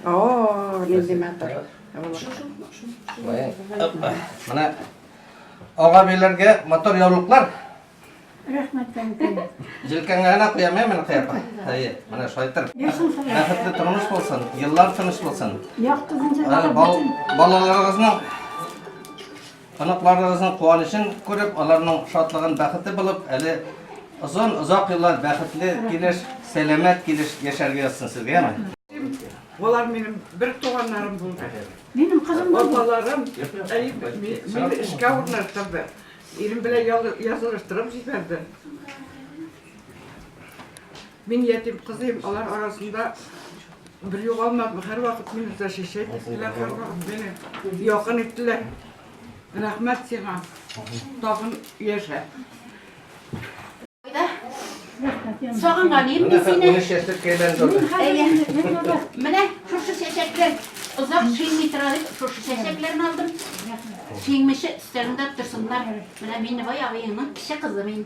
О, нинди матур. Менә ага биләргә мотор яулыклар. Рәхмәт тәңкә. Җилкәңә генә куям, мин куям. Әйе, менә шайтыр. Бәхетле тормыш булсын, еллар тыныч булсын. Яктызынча. Балаларыгызның Оныкларыгызның куанычын күреп, аларның шатлыгын бәхете булып, әле озын, озак еллар бәхетле килеш, сәламәт килеш яшәргә язсын сезгә, яме? Болар минем бер туганнарым булды. Минем кызым да бу. Апаларым мине эшкә урнаштырды. Ирем белән язылыштырып җибәрде. Мин ятим кызыйм, алар арасында бер югалмадым, һәрвакыт мине защищать иттеләр, һәрвакыт мине якын иттеләр. Рәхмәт сиңа, тагын яшә. Сагынганым мин сине. Әйе. Менә шушы чәчәкләр озак шиңми тора дип, шушы чәчәкләрне алдым. Шиңмичә өстәлендә торсыннар. Менә мин бай абыеңның кече кызы мин.